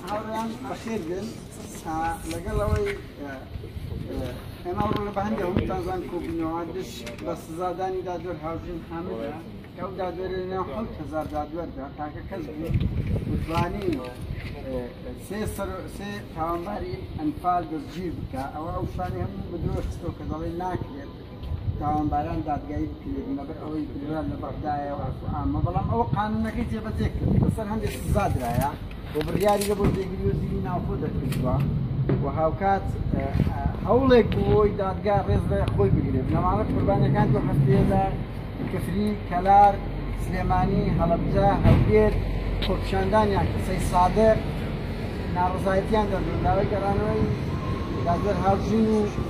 هاوڕێیان بەخێر بێن لەگەڵ ئەوەی ئێمە ئەوڕۆ لە بەهەندی هەمووتان زان کۆبوونەوە دش بە سزادانی دادوەر هاوژین حامدە کە ئەو دادوەرە نێو حەوت هەزار دادوەردا تاکە کەس بوو وتوانی سێ سەر سێ تاوانباری ئەنفال دەستگیر بکە ئەوە ئەو شانی هەموو بدرۆستەوە کە دەڵێ ناکرێت تاوانباران دادگایی بکرێت لەبەر ئەوەی بریار لە بەغدایە و ئاسو عامە بەڵام ئەوە قانونەکەی جێبەجێ کرد لەسەر هەندێک سزا درایە و بڕیاری لە بۆ جێگیری وەزیری ناوخۆ دەرکردووە و هاوکات هەوڵێک بووەوەی دادگا ڕێز لە خۆی بگرێت لەماڵە قوربانەکان دو هەفتەیەدا کفری کەلار سلێمانی هەڵبجە هەولێر خۆپیشاندانیان قسەی سادر ناڕزایەتیان دەردون داوای گەڕانەوەی دادوەر هاوژین و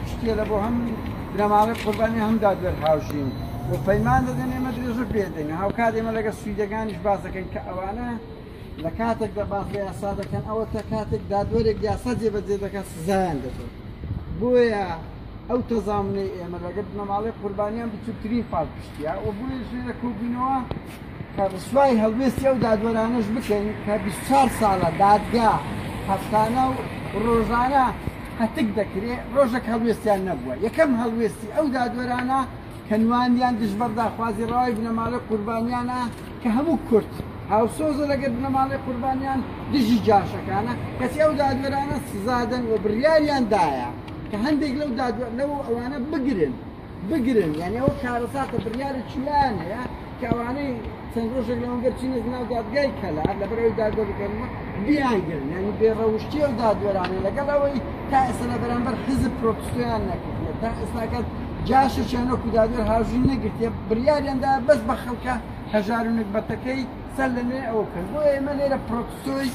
پشتگێرە بۆ هەم بنەماڵەی قوربانی و هەم دادوەر هاوژین و پەیمان دەدەن ئێمە درێژە پێ دەین هاوکات ئێمە لەگەڵ سویدەکانیش باس دەکەین کە ئەوانە لە کاتێک دە باس لە یاسا دەکەن ئەوە تا کاتێک دادوەرێک یاسا جێبەجێ دەکات سزایان دەدەن بۆیە ئەو تەزامنەی ئێمە لەگەڵ بنەماڵەی قوربانیان بچووکترین پاڵپشتیە و بۆیە ژێرە کۆبوونەوە ڕسوای هەڵوێستی ئەو دادوەرانەش بکەین کە بیست و چوار ساڵە دادگا هەفتانە و ڕۆژانە پەتک دەکرێ ڕۆژێک هەڵوێستیان نەبووە یەکەم هەڵوێستی ئەو دادوەرانە کە نواندیان دژبەر داخوازی ڕەوای بنەماڵەی قوربانیانە کە هەموو کورد هاوسۆزە لەگەل بنەماڵەی قوربانیان دژی جاشەکانە کەچی ئەو دادوەرانە سزادەن و بڕیاریان دایە کە هەندێک لەو دادوەر لەو ئەوانە بگرن بگرن یانی ئەوە کارەساتە بریارێکی لایان هەیە کەوانەی چەند ڕۆژێک لەەوە گەرچینە ناو دادگای کەلا لەبەرەوەی دادگەکەمە بیانگرن یانی بێڕەوشتی و دادوەرانە لەگەڵ ئەوەی تا ئێستا لە بەرامبەر حزب پرۆپسیان نەکردە تا ئێستاکەت جاشەشیانە کودادوەر هاژوی نەگرتێ بریاریاندا بەس بە خەڵکە هەژار و نەگبەتەکەی سەر لە نوێ ئەوە کرد بۆ ئێمە لێرە پرۆپسۆی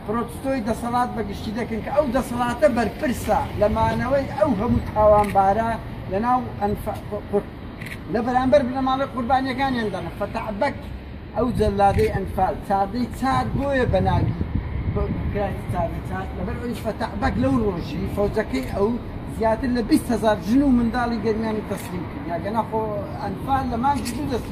پرۆتستۆی دەسەڵات بە گشتی دەکەن کە ئەو دەسەڵاتە بەرپرسە لە مانەوەی ئەو هەموو تاوانبارە لە ناو ئەنف قورت لە بەرامبەر بنەماڵەی قوربانیەکانیان دەنە فەتعبەک ئەو جەلادەی ئەنفال چاردەی چار بۆیە بە ناوی کرانی چاردەی چار لەبەر ئەوی فەتعبەک لەو ڕۆژی فەوجەکەی ئەو زیاتر لە 20 هزار ژن و منداڵی گەرمیانی تەسلیم کرد یاگەنا خۆ ئەنفال لە مانگی دوو دەست